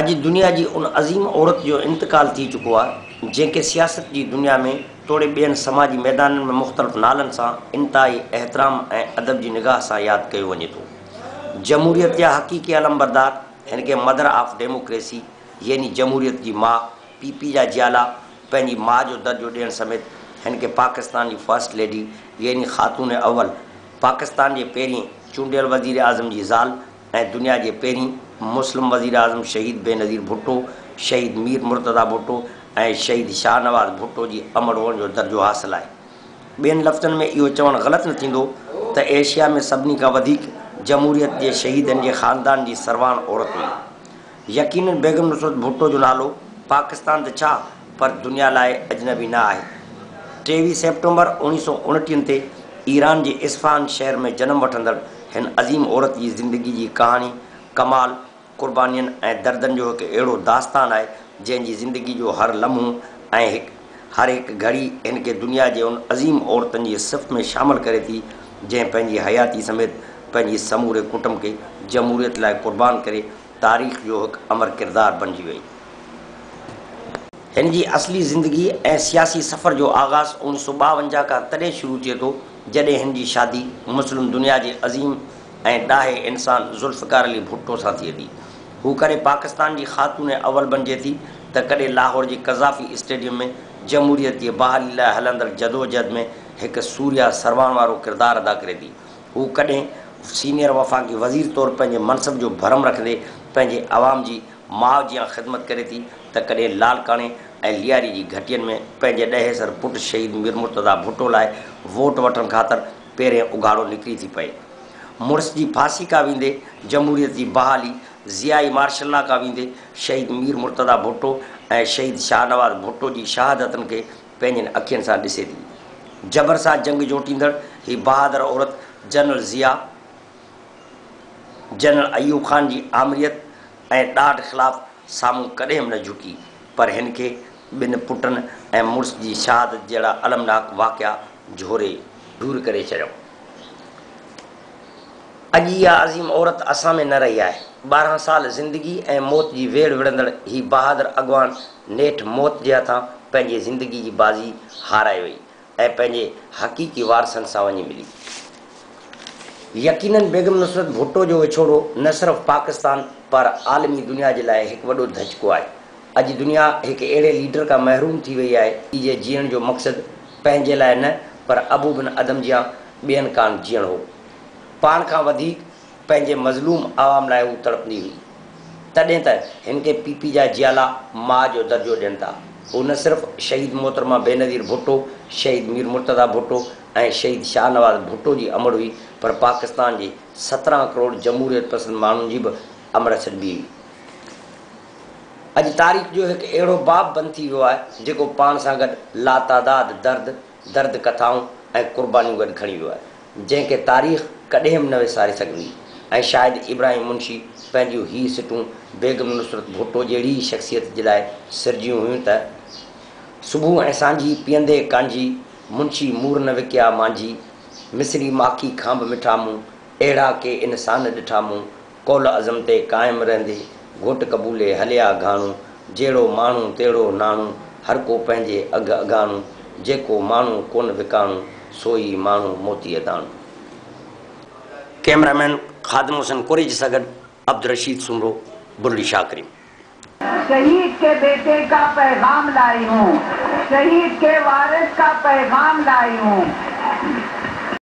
اڄ دنيا جي ان عظيم عورت جو انتقال ٿي چڪو آهي، جنهن کي سياست جي دنيا ۾ توڙي ٻين سماجي ميدانن ۾ مختلف نالن سان انتهائي احترام ۽ ادب جي نگاهه سان ياد ڪيو وڃي ٿو. جمهوريت جا حقيقي علمبردار هن کي مدر آف ڊيموڪريسي يعني جمهوريت جي ماء، پي پي جا جيالا، پنهنجي ماء جو درجو ڏيڻ سميت هن کي پاڪستان جي فرسٽ ليڊي يعني خاتون اول، پاڪستان جي پهرين چونڊيل وزيراعظم جي زال، ۽ دنيا جي پهرين مسلم وزيراعظم شهيد بينظير ڀٽو، شهيد مير مرتضيٰ ڀٽو ۽ شهيد شاهنواز ڀٽو جي امڙ هئڻ جو درجو حاصل آهي. ٻين لفظن ۾ اهو چوڻ غلط نه ٿيندو ته ايشيا ۾ سڀني کان وڌيڪ جمهوريت جي شهيدن جي خاندان جي سرواڻ عورت هئي. يقينن بيگم نصرت ڀٽو جو نالو پاڪستان ته ڇا پر دنيا لاء اجنبي نه آهي. ٽيويهه سيپٽمبر اوڻيهه سؤ اڻٽيهن تي ايران جي اصفهان شهر ۾ جنم وٺندڙ هن عظيم عورت جي زندگي جي ڪهاڻي ڪمال، قربانين ۽ دردن جو هڪ اهڙو داستان آهي جنهن جي زندگي جو هر لمحو ۽ هڪ هر هڪ گهڙي هن کي دنيا جي ان عظيم عورتن جي صف ۾ شامل ڪري ٿي جنهن پنهنجي حياتي سميت پنهنجي سموري ڪٽنب کي جمهوريت لاء قربان ڪري تاريخ جو هڪ امر ڪردار بڻجي وئي. هن جي اصلي زندگي ۽ سياسي سفر جو آغاز اوڻيھ سؤ ٻاونجاھ کان تڏهن شروع ٿئي ٿو جڏهن هن جي شادي مسلم دنيا جي عظيم ۽ ڏاهي انسان ذوالفقار علي ڀٽو سان ٿئي ٿي. هو ڪڏهن پاڪستان جي خاتون اول بڻجي ٿي ته ڪڏهن لاهور جي قذافي اسٽيڊيم ۾ جمهوريت جي بحالي لاء هلندڙ جدوجهد ۾ هڪ سوريا سروان وارو ڪردار ادا ڪري ٿي. هو ڪڏهن سينيئر وفاقي وزير طور پنهنجي منصب جو ڀرم رکندي پنهنجي عوام جي ماء جيان خدمت ڪري ٿي ته ڪڏهن لاڙڪاڻي ۽ لياري جي گهٽين ۾ پنهنجي ڏهيسر پٽ شهيد مير مرتضيٰ ڀٽو لاء ووٽ وٺڻ خاطر پيرين اگهاڙو نڪري ٿي پئي. مڙس جي ڦاسي کا ويندي جمهوريت جي بحالي، ضيائي مارشل لا کا ويندي شهيد مير مرتضيٰ ڀٽو ۽ شهيد شاهنواز ڀٽو جي شهادتن کي پنهنجين اکين سان ڏسي ٿي. جبر سان جنگ جوٽيندڙ هي بهادر عورت جنرل ضياء، جنرل ايوب خان جي آمريت ۽ ڏاڍ خلاف سامهون ڪڏهن به نه جهڪي، پر هن کي ٻن پٽن ۽ مڙس جي شهادت جهڙا المناڪ واقعا جهوري. دور ڪري ڇڏيو. اڄ اها عظيم عورت اسان ۾ نه رهي آهي. ٻارهن سال زندگي ۽ موت جي ويڙهه وڙهندڙ هي بهادر اڳواڻ نيٺ موت جي هٿان پنهنجي زندگي جي بازي هارائي وئي ۽ پنهنجي حقيقي وارثن سان وڃي ملي. يقينن بيگم نصرت ڀٽو جو وڇوڙو نه صرف پاڪستان پر عالمي دنيا جي لاء هڪ وڏو ڌچڪو آهي. اڄ دنيا هڪ اهڙي ليڊر کان محروم ٿي وئي آهي ايجي جيئڻ جو مقصد پنهنجي لاء نه پر ابو بن ادم جيان ٻين ڪان جيئڻ هو. پاڻ کان وڌيڪ. پنهنجي مظلوم عوام لاء هو تڙپندي هئي. تڏهن ته هن کي پي پي جا جيالا ماء جو درجو ڏين ٿا. هو نه صرف شهيد محترمه بينظير ڀٽو، شهيد مير مرتضيٰ ڀٽو ۽ شهيد شاهنواز ڀٽو جي امڙ هئي پر پاڪستان جي سترهن ڪروڙ جمهوريت پسند ماڻهن جي به امڙ سڏبي هئي. اڄ تاريخ جو هڪ اهڙو باب بند ٿي ويو آهي جيڪو پاڻ سان گڏ لاتعداد درد، درد ڪٿائون ۽ قربانيون گڏ کڻي ويو آهي، جنهن کي تاريخ ڪڏهن به نه وساري سگهندي ۽ شايد ابراهيم منشي پنهنجيون هي سٽون بيگم نصرت ڀٽو جهڙي ئي شخصيت جي لاء سرجيون هيون ته، صبح ۽ سانجهي پيئندي ڪانجهي، منشي مور نه وڪيا مانجهي، مصري ماکي کان به مٺا مون، اهڙا ڪي انسان ڏٺا مون، قول عزم تي قائم رهندي، گهوٽ قبولي هلي آ گهاڻو، جهڙو ماڻهو تهڙو ناڻو، هر ڪو پنهنجي اگهه اگهاڻو، جيڪو ماڻهو ڪونه وڪاڻو، سو ئي ماڻهو موتيء داڻو. ڪئميرا مين خادم حسين ڪوريجي سان گڏ عبدالرشيد سومرو، بلڙي شاهه ڪريم. شهيد ڪي بيٽي ڪا پيغام لائي هون شهيد ڪي وارث ڪا پيغام لائي هون.